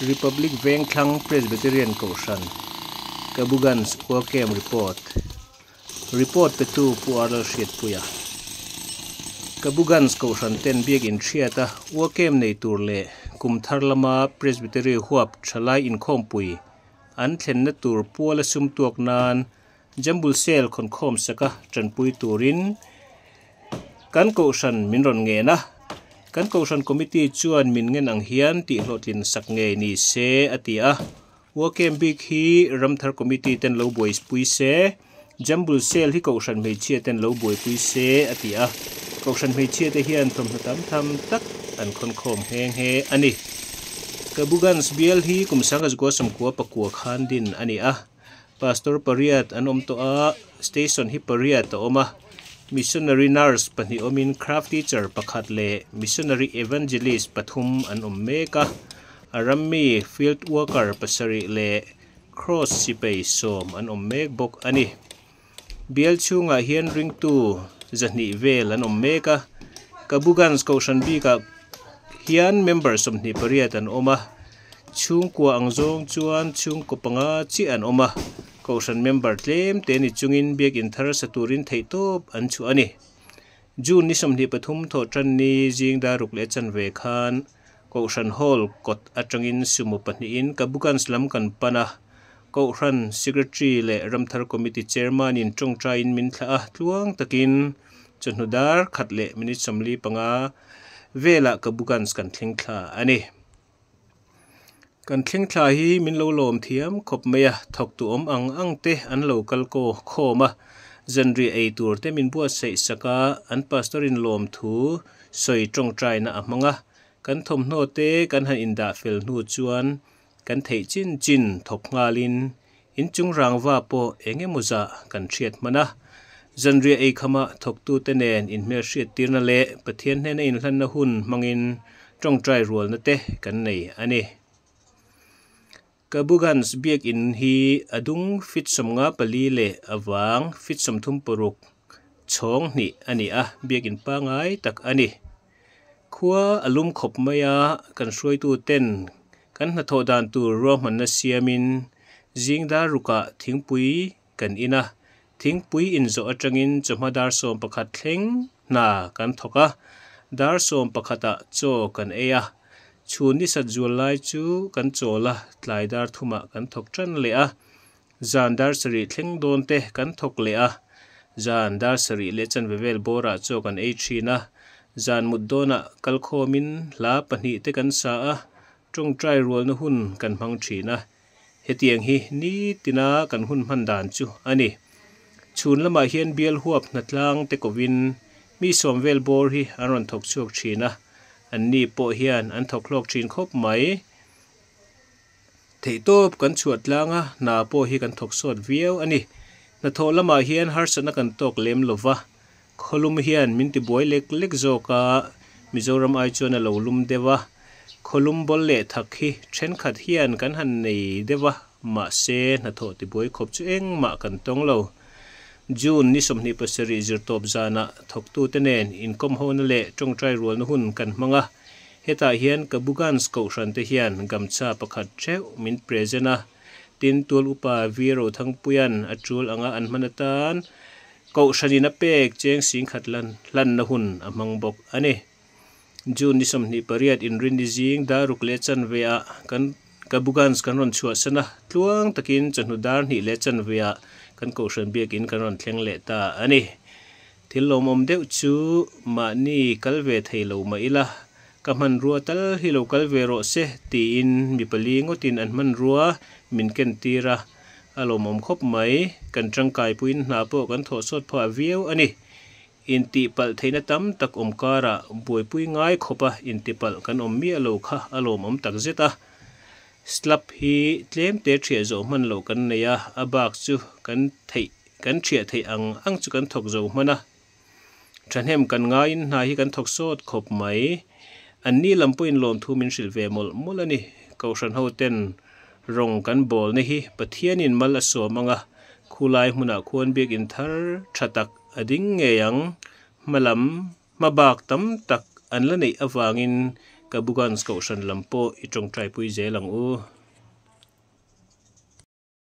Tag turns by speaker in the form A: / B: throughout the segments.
A: Republic Vengthlang Presbyterian Kohhran Kabugans Khua Kem Report Report petu Pu Arlal Hriatpuia Kabugans Kohhran ten biak in hriat a Ua Kem nei tur leh kum thar lama Presbytery huap tha lai inkhawmpui an thlenna tur pual a sum tuak nan Jambul sale khawnkhawm seka tanpui turin kan kohhran min rawn ngen a, kan kohhran committee chuan min ngen ang hian tihhlawhtlin sak ngei ni se a ti a, Uakem bik hi ramthar committee ten lo buaipui se, Jambul sale hi kohhran hmeichhia ten lo buaipui se a ti a, kohhran hmeichhia te hian thawmhnaw tam tham tak an khawnkhawm nghe nghe a ni. Kabuganj bial hi kum sanga zukua samkua pakua khan din a ni a. Pastor pariat an awm tawh a, station hi pariat a awm a, missionary nurse pahnih awmin craft teacher pakhat leh missionary evangelist pathum an awm mek a, a ram mi field worker pasarih leh cross sipei sawm an awm mek bawk a ni. Bial chhungah hian ringtu zahnih vel an awm mek a, Kabugans Kohhran bikah hian member sawmhnih pariat an awm a, chhungkua ang zawng chuan chhungkaw panga chiah an awm a, Kohhran member tlemte ni chungin biakin thar sa turin theihtawp an chhuah a ni. June ni sawmhnih pathum thawh tanni zingdar ruk leh chanve khan Kohhran Hall kawt atangin sumo pahnihin Kabugans lam kan pan a, Kohhran Secretary leh Ramthar Committee Chairman-in tawngtai-in min thlah a, tluang takin chawhnu dar khat leh minute sawmli panga velah ka Bugans kan thlengthla a ni. Kan thlengthla hi min lo lawm thiam khawp mai a, thawk tuawm ang ang te an lo kal kaw khawm a, zanriah ei tur te min buatsaih sak a, an Pastor-in lawm thu sawi tawngtaina a hmang a, kan thawmhnaw te kan han indah fel hnu chuan kan theih chin chin thawk nghalin inchung rangva pawh eng emaw zah kan hriat hman a. Zanriah eikhama thawktute nen inhmelhriat tirna leh Pathian hnena inhlanna hun hmangin tawngtai rualna te kan nei a ni. Ka Bugans biakin hi a dung feet sawmnga pali leh a vang feet sawmthum paruk chhawng hnih a ni a, biakin pangai tak a ni. Khua a lum khawp mai a, kan hruaitu ten kan hnathawh dan tur ruahmanna siamin zing dar rukah thingpui kan in a, thingpui in zawh atangin chawhma dar sawm pakhat thleng hna kan thawk a, dar sawm pakhatah chaw kan ei a, chhun ni satzual lai chu kan chawl a, tlai dar thumah kan thawk tan leh a, Zan dar sarih thleng dawn te kan thawk leh a, zan dar sarih leh chanve vel bawrah chaw kan ei thin a, zan mut dawnah kal khawmin hla pahnih te kan sa a, tawngtai rualna hun kan hmang thin a. Hetiang hi nitina kan hun hman dan chu a ni. Chhun lamah hian bial huap hnatlang te kovin mi sawm vel bawr hi an rawn thawk chhuak thin a, anni pawh hian an thawk hlawk thin khawp mai. Theihtawp kan chhuah tlang a, hna pawh hi kan thawk sawt viau a ni. Hnathawh lamah hian harsatna kan tawk lem lo va, khawlum hian min ti buai lek lek zawk a, Mizoram ai chuan a lo lum deuh a, khawlum bol leh thak hi thenkhat hian kan han nei deuh a, mahse hnathawh ti buai khawp chu engmah kan tawng lo. June ni sawmhnih pasarih zirtawp zanah thawktute nen inkawmhona leh tawngtai rualna hun kan hmang a, Hetah hian ka Bugans kohhran te hian gamcha pakhat theuh min present a, tin tual upa Vi Rothangpuia'n a tul anga an hman atan kohhranin a pek cheng sing khat lan hlanna hun a hmang bawk a ni. June ni sawmhnih pariat inrin ni zing daruk leh chanveah kan ka Bugans kan rawn chhuah sen a, tluang takin chawhnu dar hnih leh chanveah kan kohhran biakin kan rawn thleng leh ta a ni. Thil lawmawm deuh chu mahni kal ve thei lo mah ila, ka hmanrua tal hi lo kal ve rawh se tiin mi pali ngawtin an hmanrua min kentir a, a lawmawm khawp mai. Kan tangkai puiin hna pawh kan thawh sawt phah viau a ni. Intihpalh theihna tam tak awm karah buaipui ngai khawpa intipalh kan awm miah lo kha a lawmawm tak zet a. Slap hi tlemte ṭhiah zawh hman loh kan nei a, a bak chu kan theih Kan hriah theih ang ang chu kan thawk zo hman a, thahnem kan ngaiin hna hi kan thawk sawt khawp mai. An ni lam pawhin lawm thu min hrilh ve mawlh mawlh a ni. Kohhran hoten rawng kan bawl na hi Pathianin mal a sawm ang a, khu lai hmunah khuan biakin thar tha tak a ding ngei ang. Hma lam, hma bak tam tak an la neih avangin ka Bugans kohhran lam pawh i tawngtaipui zel ang u.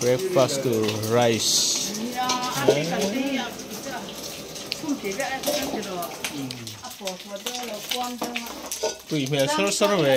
A: breakfast tur rice tui hmel sar sar ve